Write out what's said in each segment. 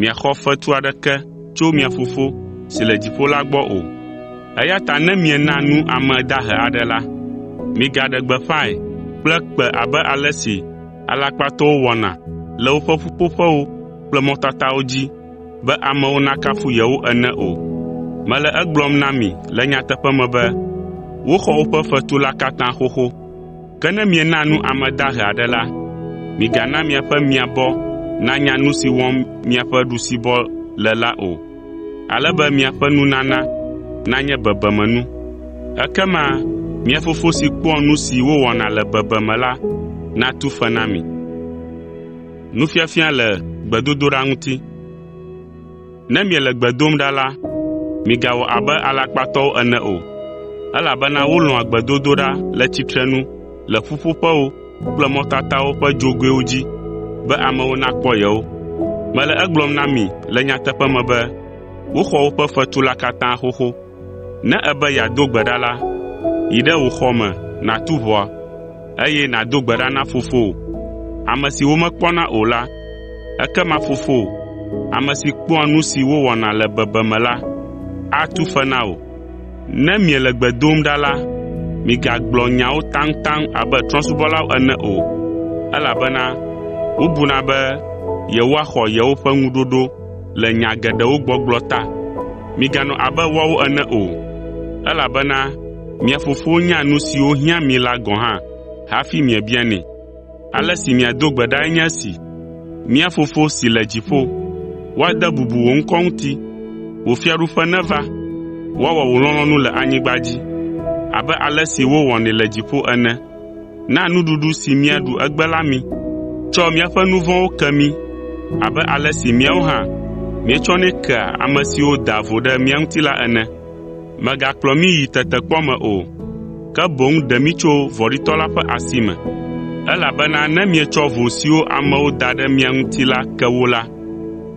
miaxɔ fetu aɖeke tso mia Fofo si le dziƒo la gbɔ o. Eya ta ne miena nu ame dahe aɖe la, migaɖe gbeƒãe kple kpẽ abe ale si alakpatɔwo wɔna le woƒe ƒuƒoƒewo kple mɔtatawo dzi be amewo nakafu yewo ene o. Mele egblɔm na mi le nyateƒe me be, woxɔ woƒe fetu la katã xoxo. Ke ne miena nu ame dahe aɖe la, migana miaƒe miabɔ nanya nu si wɔm miaƒe ɖusibɔ le la o, ale be miaƒe nunana nanye bebemenu. Ekema mia Fofo si kpɔa nu si wowɔna le bebeme la natu fe na mi. Ne miele gbe dom ɖa la, migawɔ abe alakpatɔwo ene o, elabena wolɔ̃a gbedodoɖa le tsitrenu le ƒuƒoƒewo kple mɔtatawo ƒe dzogoewo dzi be amewo nakpɔ yewo. Mele egblɔm na mi le nyateƒe me be woxɔ woƒe fetu la katã xoxo. Ne èbe yeado gbe ɖa la, yi ɖe wò xɔ me nàtu ʋɔa, eye nàdo gbe ɖa na Fofowò, ame si womekpɔna o la. Ekema Fofowò, ame si kpɔa nu si wowɔna le bebeame la, atu fe na wò. Ne miele gbe dom ɖa la, migagblɔ nyawo taŋtaŋ abe trɔ̃subɔlawo ene o, elabena wobuna be yewoaxɔ yewoƒe ŋuɖoɖo le nya geɖewo gbɔgblɔ ta. Miganɔ abe woawo ene o, elabena mia Fofo nya nu siwo hiã mi la gɔ̃ hã hafi miebianɛ. Ale si miado gbe ɖae nye esi, “Mía Fofo si le dziƒo, woade bubu wò ŋkɔ ŋuti. Wò fiaɖuƒe neva. Woawɔ wò lɔlɔ̃nu le anyigba dzi abe ale si wowɔnɛ le dziƒo ene. Na nuɖuɖu si míaɖu egbe la mí. Tsɔ míaƒe nu vɔ̃wo ke mí abe ale si míawo hã míetsɔnɛ kea ame siwo daa vo ɖe mía ŋuti la ene. Mègakplɔ mí yi tetekpɔ me o, ke boŋ ɖe mí tso vɔ̃ɖitɔ la ƒe asi me, elabena ne mietsɔ vo siwo amewo da ɖe mia ŋuti la ke wo la,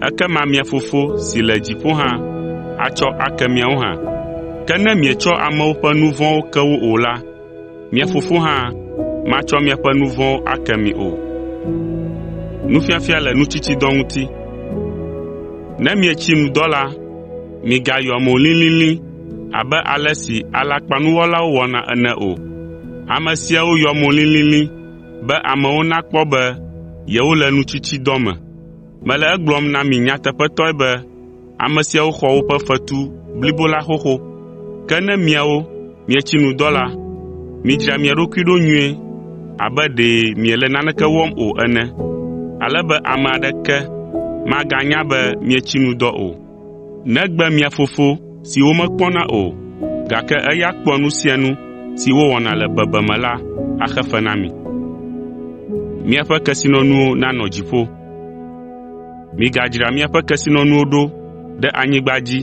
ekema mia Fofo si le dziƒo hã atsɔ ake miawo hã. Ke ne mietsɔ amewo ƒe nu vɔ̃wo ke wo o la, Mia fofo hã matsɔ miaƒe nu vɔ̃wo ake mi o.” Ne mietsi nu dɔ la, migayɔ mo lilili abe ale si alakpanuwɔlawo wɔna ene o. Ame siawo yɔ mo lilili be amewo nakpɔ be yewole nutsitsidɔ me. Mele egblɔm na mi nyateƒetɔe be Ame siawo xɔ woƒe fetu blibo la xoxo. Ke ne miawo mietsi nu dɔ la, midzra mia ɖokui ɖo nyuie abe ɖe miele naneke wɔm o ene, ale be ame aɖeke maganya be mietsi nu dɔ o, negbe mia Fofo si womekpɔna o, gake eya kpɔa nu sia nu si wowɔna le bebeme la axe fe na mi. Migadzra miaƒe kesinɔnuwo ɖo ɖe anyigba dzi,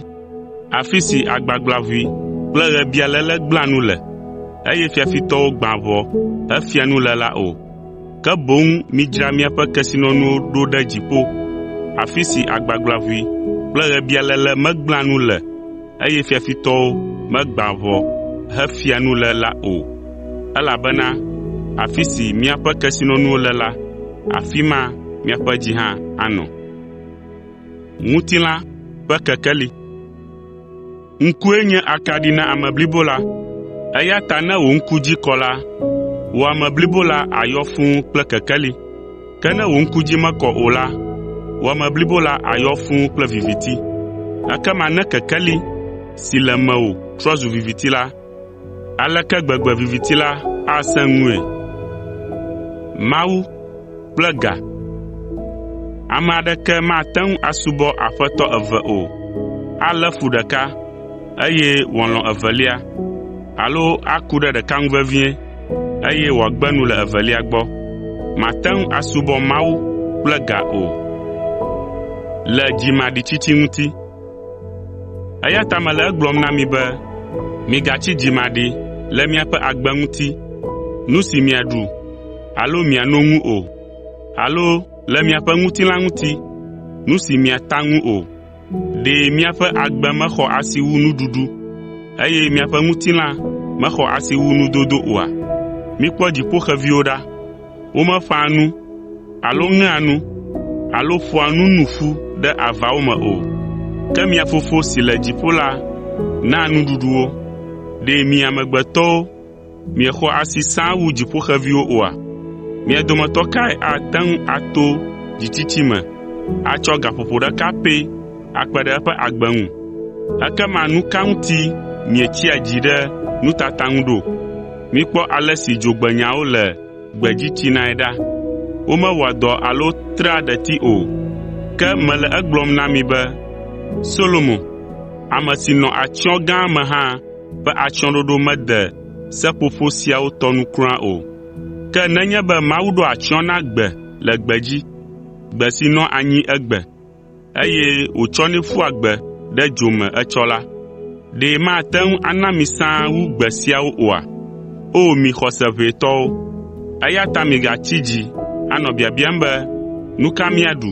afi si agbagblaʋui kple ɣebialéle gblẽa nu le, eye fiafitɔwo gbãa ʋɔ hefia nu le la o. Ke boŋ midzra miaƒe kesinɔnuwo ɖo ɖe dziƒo, afi si agbagblaʋui kple ɣebialéle megblẽa nu le. eye fiafitɔwo megbã ʋɔ hefia nu le la o. Elabena afi si miaƒe kesinɔnuwo le la, afi ma miaƒe dzi hã anɔ. “Ŋkue nye akaɖi na ame blibo la, eya ta ne wò ŋku dzi kɔ la, wò ame blibo la àyɔ fũu kple kekeli. Ke ne wò ŋku dzi mekɔ o la, wò ame blibo la ayɔ fũu kple viviti. Ekema ne kekeli si le mewò trɔ zu viviti la, aleke gbegbe viviti la asẽ ŋue! Ame aɖeke mate ŋu asubɔ Aƒetɔ eve o. Alé fu ɖeka, eye wòalɔ̃ evelia, alo aku ɖe ɖeka ŋu vevie. eye wòagbe nu le evelia gbɔ. Màte ŋu asubɔ Mawu kple ga o. Eya ta mele egblɔm na mi be, migatsi dzimaɖi le miaƒe agbe ŋuti, nu si miaɖu alo miano ŋu o, alo le miaƒe ŋutilã ŋuti, nu si miata ŋu o. Ɖe miaƒe agbe mexɔ asi wu nuɖuɖu, eye miaƒe ŋutilã mexɔ asi wu nudodo oa? Mikpɔ dziƒoxeviwo ɖa. Womeƒãa nu alo ŋea nu alo ƒoa nu nu ƒu ɖe avawo me o, ke mia Fofo si le dziƒo la naa nuɖuɖu wo. Ɖe mi amegbetɔwo Miexɔ asi sãa wu dziƒoxeviwo oa? Mia dometɔ kae ate ŋu ato dzitsitsi me atsɔ gaƒoƒo ɖeka pɛ akpe ɖe eƒe agbe ŋu? Ekema nu ka ŋuti mietsia dzi ɖe nutata ŋu ɖo? Mikpɔ ale si dzogbenyawo le gbedzi tsinae ɖa. Womewɔa dɔ alo trea ɖeti o. Ke mele egblɔm na mi be Solomo, ame si nɔ atsyɔ̃ gã me hã, be atsyɔ̃ɖoɖo mede seƒoƒo siawo tɔ nu kura o. Ke nenye be Mawu ɖo atsyɔ̃ na gbe le gbedzi, gbe si nɔa anyi egbe, eye wòtsɔnɛ ƒua gbe ɖe dzo me etsɔ la, ɖe mate ŋu ana mi sã wu gbe siawo oa? O mi xɔse ʋɛ tɔwo! Eya ta migatsi dzi anɔ biabiam be, “Nu ka míaɖu?”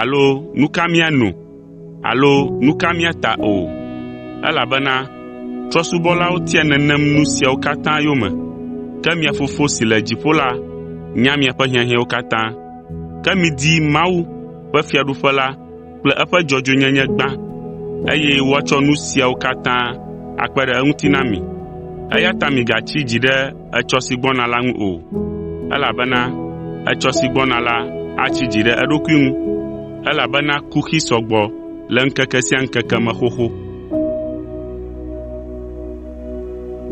alo “Nu ka míano?” Alo nu ka mía ta o? Elabena trɔ̃subɔlawo tia nenem nu siawo katã yome. Ke mia Fofo si le dziƒo la nya miaƒe hiahiãwo katã. Ke midi Mawu ƒe Fiaɖuƒe la kple eƒe dzɔdzɔenyenye gbã, eye woatsɔ nu siawo katã akpe ɖe eŋuti na mi. Eya ta migatsi dzi ɖe etsɔ si gbɔna la ŋu o, elabena etsɔ si gbɔna la atsi dzi ɖe eɖokui ŋu, elabena kuxi sɔ gbɔ le ŋkeke sia ŋkeke me xoxo.